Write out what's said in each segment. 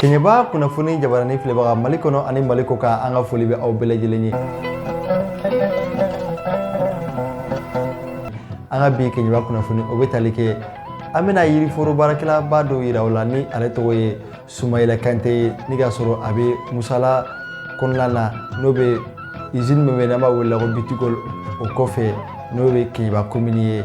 keɲɛba kunnafoni jabarani filɛbaga mali kɔnɔ ani mali kɔkan an ka foli bɛ aw bɛɛ lajɛlen ye an ka bi keɲɛba kunnafoni o bɛ tali kɛ an bɛna yiriforo baarakɛlaba dɔ yira aw la ni ale tɔgɔ ye sumayila kante ye ni k'a sɔrɔ a bɛ musala kɔnɔna na n'o bɛ izini min bɛ n'an b'a wele ko B2Gold o kɔfɛ n'o bɛ keɲɛba komini ye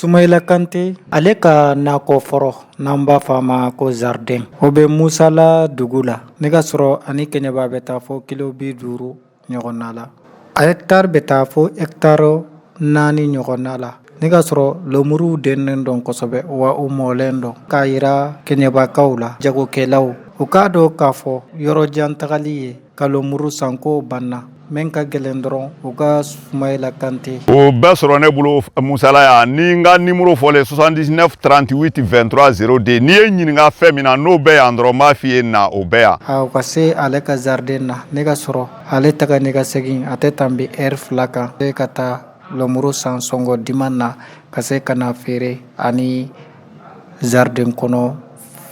Sumayila Kante ale ka nakɔ foro n'an b'a fɔ a ma ko zarden o bɛ Musala dugu la ni k'a sɔrɔ a ni kɛɲɛba bɛ taa fɔ kilo bi duuru ɲɔgɔnna la a hɛkitari bɛ taa fɔ hɛkitari naani ɲɔgɔnna la ni k'a sɔrɔ lemuru dennen don kosɛbɛ wa u mɔlen don k'a jira kɛɲɛbakaw la jagokɛlaw u k'a dɔn k'a fɔ yɔrɔ jan tagali ye Ka lemuru san ko banna min ka gɛlɛn dɔrɔn u ka sumayila kante o bɛɛ sɔrɔ ne bolo musala yan ni n ka nimɔrɔ filɛ soixante-neuf trente-huit vingt-trois zéro deux n'i ye ɲininka fɛn min na n'o bɛ yan dɔrɔn n b'a fɔ i ye na o bɛ yan a ka se ale ka zariden na ni k'a sɔrɔ ale taa ni ka segin a tɛ tanbɛ ɛri fila kan e ka taa lemuru san sɔngɔ diman na ka se ka na feere ani zariden kɔnɔ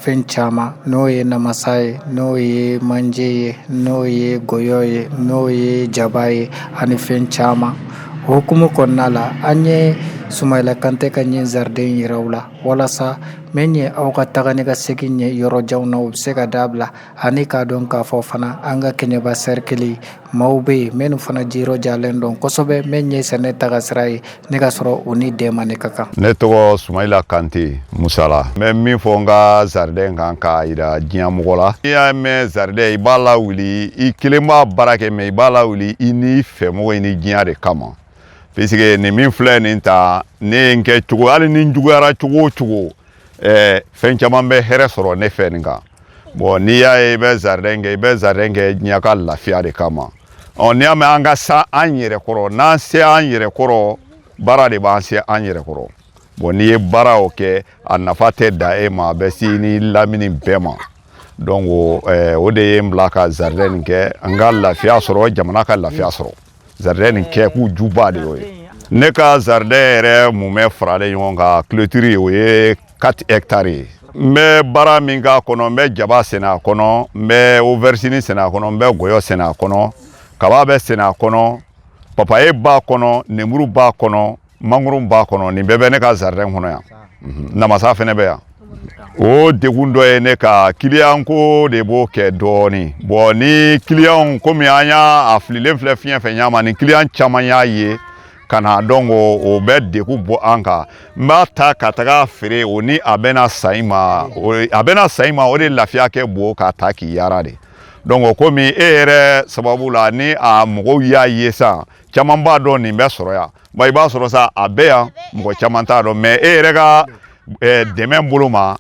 fɛn caman n'o ye namasa ye n'o ye manje ye n'o ye gɔyɔ ye n'o ye jaba ye ani fɛn caman o hukumu kɔnɔna la an ye sumayila kantɛ ka nin zariden jira aw la walasa min ye aw ka taga ni ka segin ye yɔrɔ jan na o bɛ se ka dabila ani k'a dɔn k'a fɔ fana an ka kɛɲɛba sɛrikili Maaw bɛ yen minnu fana jijalen don kosɛbɛ min ye sɛnɛ taga sira ye ni k'a sɔrɔ u ni dɛmɛni ka kan ne tɔgɔ sumayila kante musala n bɛ min fɔ n ka zariden in kan k'a jira diɲɛ mɔgɔ la i y'a mɛn zariden i b'a lawuli i kelen b'a baara kɛ mɛ i b'a lawuli i n'i fɛmɔgɔ i ni diɲɛ de kama puisque nin min filɛ nin ta ne n kɛ cogo hali ni n juguyara cogo o cogo ɛɛ fɛn caman bɛ hɛrɛ sɔrɔ ne fɛ nin kan bɔn n'i y'a ye i bɛ zaridɛn kɛ i bɛ zaridɛn kɛ diɲɛ ka lafiya de kama ɔ n'i y'a mɛn an ka se an yɛrɛ kɔrɔ n'an se an yɛrɛ kɔrɔ baara de b'an se an yɛrɛ kɔrɔ bɔn n'i ye baara o kɛ a nafa tɛ dan e ma a bɛ se nin lamini bɛɛ ma donc o de ye n bila ka zaridɛn nin kɛ n ka lafiya sɔrɔ jamana ka lafiya sɔrɔ Zariden kɛ kun juba de ye ne ka zariden yɛrɛ mumɛ faralen ɲɔgɔn kan kulotiri o ye quatre hectares ye n bɛ baara min k'a kɔnɔ n bɛ jaba sɛnɛ a kɔnɔ n bɛ aubergine sɛnɛ a kɔnɔ n bɛ gɔyɔ sɛnɛ a kɔnɔ kaba bɛ sɛnɛ a kɔnɔ papaye b'a kɔnɔ lemuru b'a kɔnɔ mangoro b'a kɔnɔ nin bɛɛ bɛ ne ka zaridɛn kɔnɔ yan mhm. namasa fana bɛ yan o degun dɔ ye ne ka kiliyan ko de b'o kɛ dɔɔnin bɔn ni kiliyanw komi an y'a a fililen filɛ fiɲɛ fɛ ɲama ni kiliyan caman y'a ye ka na dɔn ko o bɛ degun bɔ an kan n b'a ta ka taga feere o ni a bɛna san i ma a bɛna san i ma o de lafiya ka bon k'a ta k'i yaara de donc komi e yɛrɛ sababu la ni a mɔgɔw y'a ye sisan caman b'a dɔn nin bɛ sɔrɔ yan i b'a sɔrɔ sa a bɛ yan mɔgɔ caman t'a dɔn mɛ e yɛrɛ ka dɛmɛ bolo ma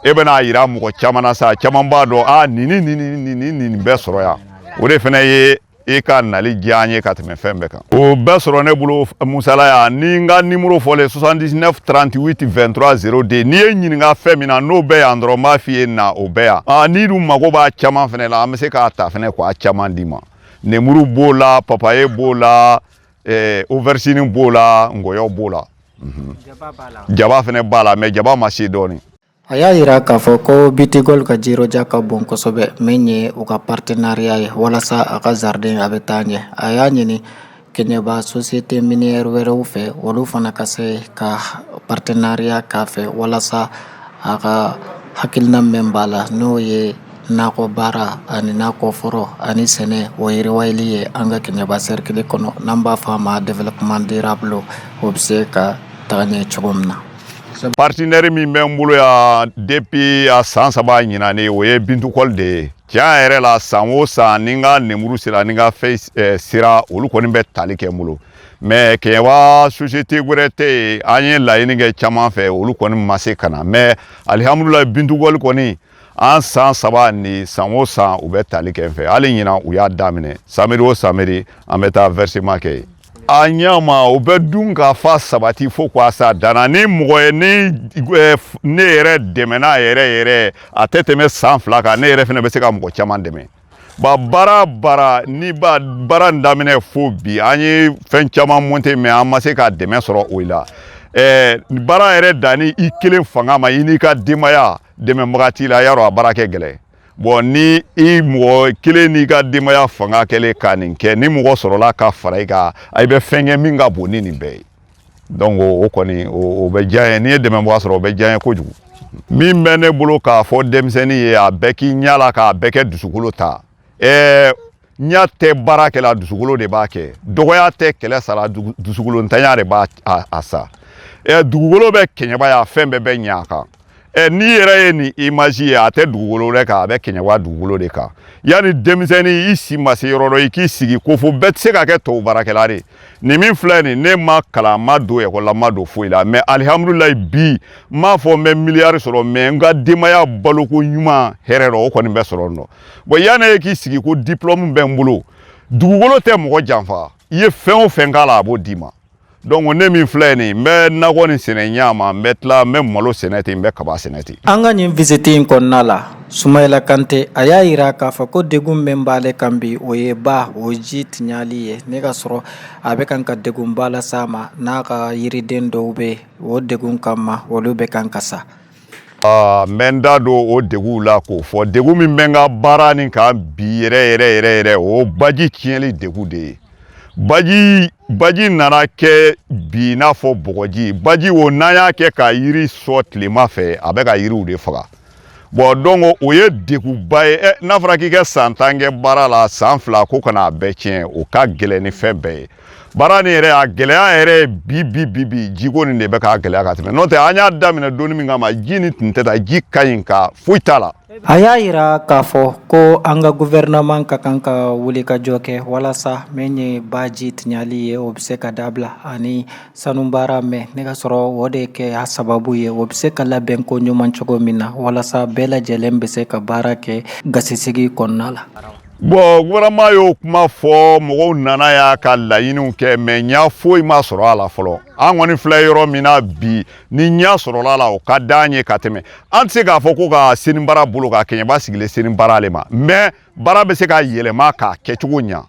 e bɛna a jira mɔgɔ caman na sa caman b'a dɔn a nin ni nin nin bɛ sɔrɔ yan o de fana ye e ka nali diya an ye ka tɛmɛ fɛn bɛɛ kan o bɛ sɔrɔ ne bolo musala yan ni n ka nimoro fɔlen 79 38 23 02 n'i ye ɲininka fɛn min na n'o bɛ yan dɔrɔn n b'a f'i ye na o bɛ yan n'i dun mago b'a caman fana la an bɛ se k'a ta fana k'a caman d'i ma nemuru b'o la papaye b'o la eh, oversini b'o la ngɔyɔ b'o la jaba fana b'a la mɛ jaba ma se dɔɔnin a y'a yira k'a fɔ ko B2Gold ka jiroja ka bon kosɛbɛ min ye u ka partenariya ye walasa a ka zarden a bɛ taa ɲɛ a y'a ɲini kɛɲɛba sosiyete miniyɛrɛ wɛrɛw fɛ olu fana ka se ka paritenareya k'a fɛ walasa a ka hakilina mɛn b'a la n'o ye nakɔ baara ani nakɔ foro ani sɛnɛ o yiriwali ye an ka kɛɲɛba sɛrikili kɔnɔ n'an b'a fɔ a ma développement durable o bɛ se ka taga ɲɛ cogo min na paritenɛri min bɛ n bolo yan depi a san saba ɲinan o ye B2Gold de ye Tiɲɛ yɛrɛ la san o san ni n ka nemuru sera ni n ka fɛn eh, sera olu kɔni bɛ tali kɛ n bolo mɛ kɛɲɛba sosiyete wɛrɛ tɛ yen an ye laɲini kɛ caman fɛ olu kɔni ma se ka na mɛ alihamudulayi B2Gold kɔni an san saba ni san o san u bɛ tali kɛ n fɛ hali ɲinan u y'a daminɛ samedi o samedi an bɛ taa vɛrisiman kɛ yen a ɲɛ ma o bɛ dunkafa sabati fo ka s'a dan na ni mɔgɔ ye ni eh, ne yɛrɛ dɛmɛna a yɛrɛ yɛrɛ a tɛ tɛmɛ san fila kan ne yɛrɛ fana bɛ se ka mɔgɔ caman dɛmɛ ba baara baara ni ba baara in daminɛ fo bi an ye fɛn caman monte mɛ an ma se ka dɛmɛ sɔrɔ o la eh, baara yɛrɛ danni i kelen fanga ma i n'i ka denbaya dɛmɛbaga t'i la y'a dɔn a baara ka gɛlɛn bɔn ni i mɔgɔ kelen n'i ka denbaya fanga kɛlen ka nin kɛ ni mɔgɔ sɔrɔla ka fara i kan i bɛ fɛn kɛ min ka bon ni nin bɛɛ ye donc o kɔni o bɛ diya an ye n'i ye dɛmɛbaga sɔrɔ o bɛ diya an ye kojugu min bɛ ne bolo k'a fɔ denmisɛnnin ye a bɛɛ k'i ɲɛ la k'a bɛɛ ka dusukolo ta ɛɛ ɲa tɛ baara kɛ la dusukolo de b'a kɛ dɔgɔya tɛ kɛlɛ sara dusukolo ntanya de b'a a sa ɛ dugukolo bɛ kɛɲɛba yan fɛn bɛɛ bɛ ɲɛ a kan ɛ n'i yɛrɛ ye nin imazi ye a tɛ dugukolo wɛrɛ kan a bɛ kɛɲɛba dugukolo de kan yanni denmisɛnnin i si ma se yɔrɔ dɔ i k'i sigi ko fo bɛɛ tɛ se ka kɛ tɔw baarakɛla de ne min filɛ nin ne ma kalan n ma don ekɔli la n ma don foyi la mɛ alihamudulilayi bi n m'a fɔ n bɛ miliyari sɔrɔ mɛ n ka denbaya balo koɲuman hɛrɛ dɔ o kɔni bɛ sɔrɔ n dɔn bɔn yanni e k'i sigi ko diplɔmu bɛ n bolo dugukolo tɛ mɔgɔ janfa i ye fɛn o fɛn k'a la a b'o d'i ma donc ne min filɛ nin n bɛ nakɔnin sɛnɛ ɲa ma n bɛ tila n bɛ malo sɛnɛ ten n bɛ kaba sɛnɛ ten an ka nin visite in kɔnɔna la sumayila kante a y'a yira k'a fɔ ko degun min b'ale kan bi o ye ba o ji tiɲali ye n'i k'a sɔrɔ a bɛ kan ka degunba las'a ma n'a ka yiriden dɔw bɛ o degun kama olu bɛ kan ka sa n bɛ n da don o deguw la k'o fɔ degu min bɛ n ka baara nin kan bi yɛrɛ yɛrɛ yɛrɛ yɛrɛ o baji tiɲɛli degu de ye baji baji nana kɛ bi i n'a fɔ bɔgɔji baji o n'an y'a kɛ ka yiri sɔn tilema fɛ a bɛ ka yiriw de faga bɔn donc o ye deguba ye n'a fɔra k'i ka san tan kɛ baara la san fila ko ka na a bɛɛ tiɲɛ o ka gɛlɛn ni fɛn bɛɛ ye baara nin yɛrɛ a gɛlɛya yɛrɛ bi bi bi bi jiko nin de bɛ k'a gɛlɛya ka tɛmɛ n'o tɛ an y'a daminɛ donni min kama ji nin tun tɛ tan ji ka ɲi ka foyi t'a la a y'a yira k'a fɔ ko an ka guvɛrɛnaman ka kan ka wulikajɔ kɛ walasa min ye baji tiɲali ye o bɛ se ka dabila ani sanubaara min n'i k'a sɔrɔ o de kɛ a sababu ye o bɛ se ka labɛn koɲuman cogo min na walasa bɛɛ lajɛlen bɛ se ka baara kɛ gasisigi kɔnɔna la bɔn guvɛrɛnaman y'o kuma fɔ mɔgɔw nana yan ka laɲiniw kɛ mɛ ɲa foyi ma sɔrɔ a la fɔlɔ an kɔni filɛ yɔrɔ min na bi ni ɲa sɔrɔla la o ka d'an ye ka tɛmɛ an tɛ se k'a fɔ ko ka sanibaara boloka kɛɲɛba sigilen sanibaara le ma mɛ baara bɛ se ka yɛlɛma k'a kɛcogo ɲa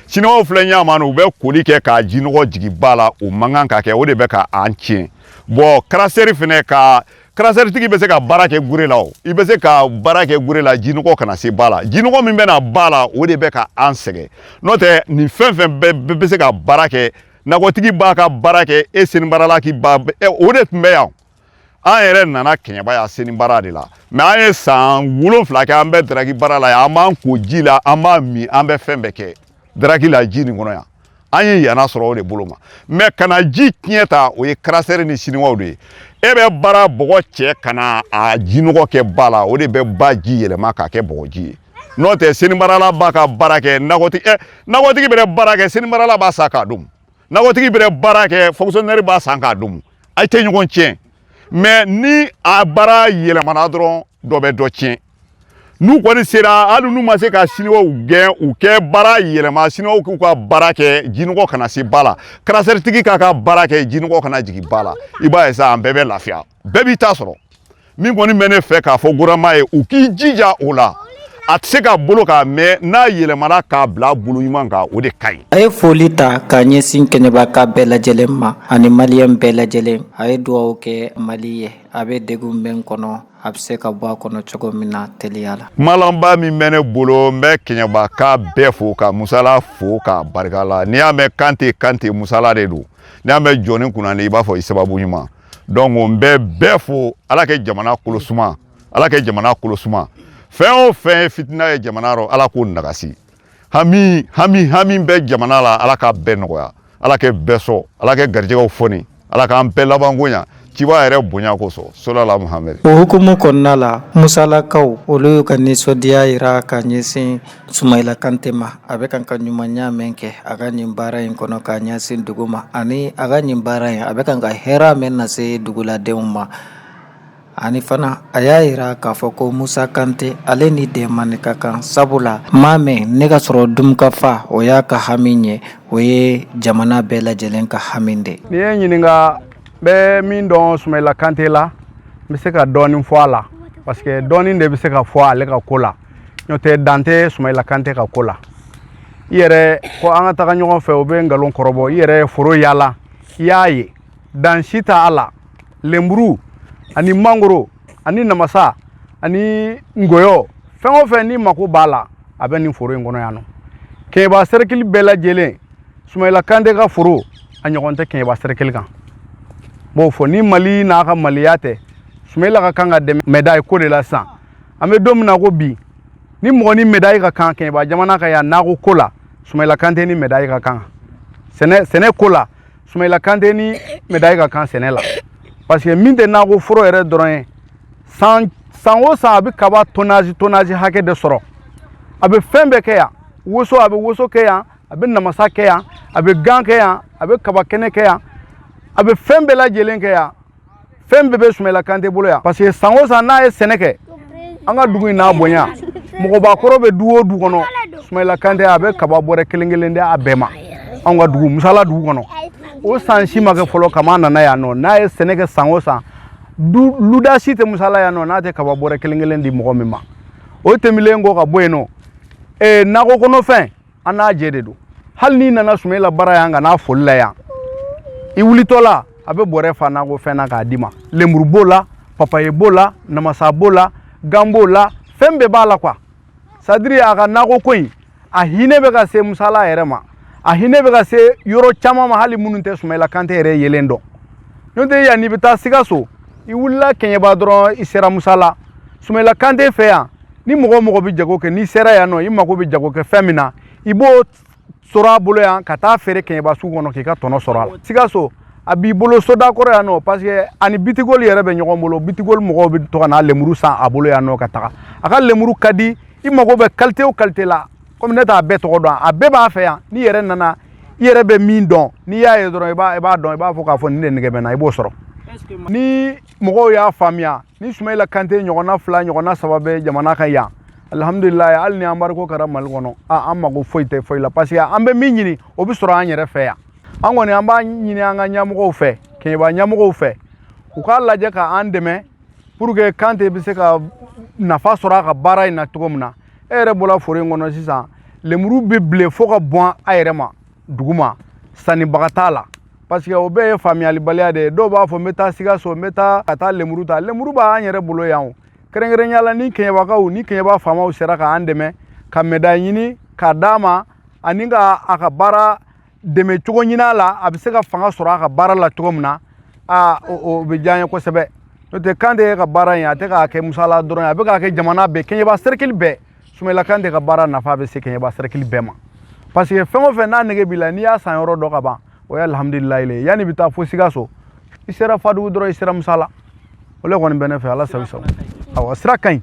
siniwaw filɛ ɲa ma u bɛ koli kɛ k'a jinɔgɔ jigi ba la o man kan ka kɛ o de bɛ ka an tiɲɛ bɔn karasɛri fɛnɛ ka karasɛritigi bɛ se ka baara kɛ gɛrɛ la i bɛ se ka baara kɛ gɛrɛ la jinɔgɔ kana se ba la jinɔgɔ min bɛ na ba la o de bɛ ka an sɛgɛn n'o tɛ nin fɛn fɛn bɛ se ka baara kɛ nakɔtigi b'a ka baara kɛ e sanibaarala k' ba o de tun bɛ yan an yɛrɛ nana kɛɲɛba yan sanibaara de la mɛ an ye san wolon wolonwula kɛ an bɛ daraki baara la yan an b'an ko ji la an b'a min an bɛ fɛn bɛɛ kɛ daraki la ji nin kɔnɔ yan an ye yana sɔrɔ o de bolo ma mɛ ka na ji tiɲɛ tan o ye karasɛri ni siniwaw de ye e bɛ baara bɔgɔ cɛ ka na a jinɔgɔ kɛ ba la o de bɛ ba ji yɛlɛma k'a kɛ bɔgɔji ye n'o tɛ sanibaarala b'a ka baara kɛ nakɔtigi ɛ nakɔtigi b'a la baara kɛ sanibaarala b'a san k'a dun nakɔtigi b'a la baara kɛ fonkisɔnɛri b'a san k'a dun a tɛ ɲɔgɔn tiɲɛ mɛ ni a baara yɛlɛmana dɔrɔn dɔ bɛ dɔ tiɲɛ n'u kɔni sera hali n'u ma se ka siniwaw gɛn u kɛ baara yɛlɛma siniwaw k'u ka baara kɛ jinɔgɔ kana se ba la karasɛritigi k'a ka baara kɛ jinɔgɔ kana jigin ba la i b'a ye sa an bɛɛ bɛ lafiya bɛɛ b'i ta sɔrɔ min kɔni bɛ ne fɛ k'a fɔ gouvernement ye u k'i jija o la a tɛ se ka boloka mais n'a yɛlɛmana k'a bila bolo ɲuman kan o de ka ɲi a ye foli ta k'a ɲɛsin kɛɲɛbaka bɛɛ lajɛlen ma ani maliyɛn bɛɛ lajɛlen a ye dugawu kɛ mali ye a bɛ degun min kɔnɔ a bɛ se ka bɔ a kɔnɔ cogo min na teliya la kuma laban min bɛ ne bolo n bɛ kɛɲɛbaka bɛɛ fo ka musala fo ka barika la n'i y'a mɛn kante kante musala de don n'i y'a mɛn jɔn kunnandi i b'a fɔ i sababu ɲuman donc n bɛ bɛɛ fo ala kɛ jamana kolo suma ala kɛ jamana kolo suma fɛn o fɛn ye fitina ye jamana rɔ ala k'o nagasi hami hami hami bɛ jamana la ala k'a bɛɛ nɔgɔya ala kɛ bɛɛ sɔn ala kɛ garijɛgɛw fɔni ala k'an bɛɛ labanko ɲa ciba yɛrɛ bonya kosɔn solala muhamɛd o hukumu kɔnɔna la musalakaw olu y'u ka nisɔndiya yira ka ɲɛsin sumayila kante ma a bɛ kan ka ɲumanya mɛn kɛ a ka nin baara in kɔnɔ ka ɲɛsin dugu ma ani a ka nin baara in a bɛ kan ka hɛrɛ mɛn nase duguladenw ma ani fana a y'a jira k'a fɔ ko musa kante ale ni dɛmɛni ka kan sabu la maa mɛn ne ka sɔrɔ dunkafa o y'a ka hami ye o ye jamana bɛɛ lajɛlen ka hami de nin ye ɲininka bɛ min dɔn sumayila kante la n bɛ se ka dɔɔnin fɔ a la parce que dɔɔnin de bɛ se ka fɔ ale ka ko la n'o tɛ dan tɛ sumayila kante ka ko la i yɛrɛ ko an ka taga ɲɔgɔn fɛ o bɛ nkalon kɔrɔbɔ i yɛrɛ foro yaala i y'a ye dan si t'a la lenburu ani mangoro ani namasa ani ngɔyɔ fɛn o fɛn n'i mako b'a la a bɛ nin foro in kɔnɔ yan nɔ kɛɲɛba sɛrɛkili bɛɛ lajɛlen sumayila kante ka foro a ɲɔgɔn tɛ kɛɲɛba sɛrɛkili kan b'o fɔ ni mali n'a ka maliya tɛ sumayila ka kan ka dɛmɛ mɛdayi ko de la sisan an bɛ don min na ko bi ni mɔgɔ ni mɛdayi ka kan kɛɲɛba jamana kan yan nakɔ ko la sumayila kante ni mɛdayi ka kan sɛnɛ sɛnɛ ko la sumayila kante ni mɛdayi ka kan sɛnɛ la parce que nin tɛ nakɔ foro yɛrɛ dɔrɔn ye san san o san a bɛ kaba tonazi tonazi hakɛ de sɔrɔ a bɛ fɛn bɛɛ kɛ yan woso a bɛ woso kɛ yan a bɛ namasa kɛ yan a bɛ gan kɛ yan a bɛ kaba kɛnɛ kɛ yan a bɛ fɛn bɛɛ lajɛlen kɛ yan fɛn bɛɛ bɛ sumayila kante bolo yan parce que san o san n'a ye sɛnɛ kɛ an ka dugu in n'a bonya mɔgɔbakɔrɔ bɛ du o du kɔnɔ sumayila kante a bɛ kaba bɔrɛ kelen kelen di a bɛɛ ma anw ka dugu musala dugu kɔnɔ o san si ma kɛ fɔlɔ kabi a nana yan nɔ n'a ye sɛnɛ kɛ san o san du luda si tɛ musala yan nɔ n'a tɛ kaba bɔrɛ kelen kelen di mɔgɔ min ma o tɛmɛlen kɔ ka bɔ yen nɔ ee nakɔ kɔnɔfɛn an n'a jɛ de don hali n'i nana sumayila bara yan ka n'a foli la yan i wulitɔ la a bɛ bɔrɛ fa nakɔfɛn na k'a d'i ma lemuru b'o la papaye b'o la namasa b'o la gan b'o la fɛn bɛɛ b'a la quoi c'est-à-dire a ka nakɔ ko in a hinɛ bɛ ka se musala yɛrɛ ma a hinɛ bɛ ka se yɔrɔ caman ma hali minnu tɛ sumayila kante yɛrɛ yelen dɔn n'o tɛ yanni i bɛ taa sikaso i wulila kɛɲɛba dɔrɔn i sera musala sumayila kante fɛ yan ni mɔgɔ o mɔgɔ bɛ jago kɛ n'i sera yan nɔ i mago bɛ jago kɛ fɛn min na i b'o sɔrɔ a bolo yan ka taa feere kɛɲɛba sugu kɔnɔ k'i ka tɔnɔ sɔrɔ a la sikaso a b'i bolo soda kɔrɔ yan nɔ parce que ani bitigoli yɛrɛ bɛ ɲɔgɔn bolo bitigoli mɔgɔw bɛ to ka na lemuru san a bolo yan nɔ ka taga a ka lemuru ka di i mago bɛ kalite o kalite la komi ne t'a bɛɛ tɔgɔ dɔn a bɛɛ b'a fɛ yan n'i yɛrɛ nana i yɛrɛ bɛ min dɔn n'i y'a ye dɔrɔn i b'a dɔn i b'a fɔ k'a fɔ nin de nege bɛ n na i b'o sɔrɔ ni mɔgɔw y'a faamuya ni sumayila kante ɲɔgɔnna fila ɲɔgɔnna saba bɛ jamana kan yan alihamdulilayi hali ni embargo kɛra mali kɔnɔ an mago foyi tɛ foyi la parce que an bɛ min ɲini o bɛ sɔrɔ an yɛrɛ fɛ yan an kɔni an b'a ɲini an ka ɲɛmɔgɔw fɛ kɛɲɛba ɲɛmɔgɔw fɛ u k'a lajɛ ka an dɛmɛ pour que kante bɛ se ka nafa sɔrɔ a ka baara in na cogo min na e yɛrɛ bɔra foro in kɔnɔ sisan lemuru bɛ bilen fo ka bɔn a yɛrɛ ma duguma sannibaga t'a la parce que o bɛɛ ye faamuyalibaliya de ye dɔw b'a fɔ n bɛ taa sikaso n bɛ taa ka taa lemuru ta lemuru b'an yɛrɛ bolo yan o kɛrɛnkɛrɛnnenya la ni kɛɲɛbakaw ni kɛɲɛba faamaw sera k'an dɛmɛ ka mɛda ɲini k'a d'a ma ani ka a ka baara dɛmɛ cogo ɲini a la a bɛ se ka fanga sɔrɔ a ka baara la cogo min na aa o bɛ diya n ye kosɛbɛ n'o tɛ kante ka baara in a tɛ k'a kɛ musala dɔrɔn ye a bɛ k'a kɛ jamana bɛɛ kɛɲɛba serikili bɛɛ sumayila kante ka baara nafa bɛ se kɛɲɛba serikili bɛɛ ma parce que fɛn o fɛn n'a nege b'i la n'i y'a sanyɔrɔ dɔn ka ban o ye alihamudulilayi le ye yanni i bɛ taa fo sikaso i sera fadugu dɔrɔn i sera musala o le kɔni bɛ ne fɛ ala sago i sago awa sira ka ɲi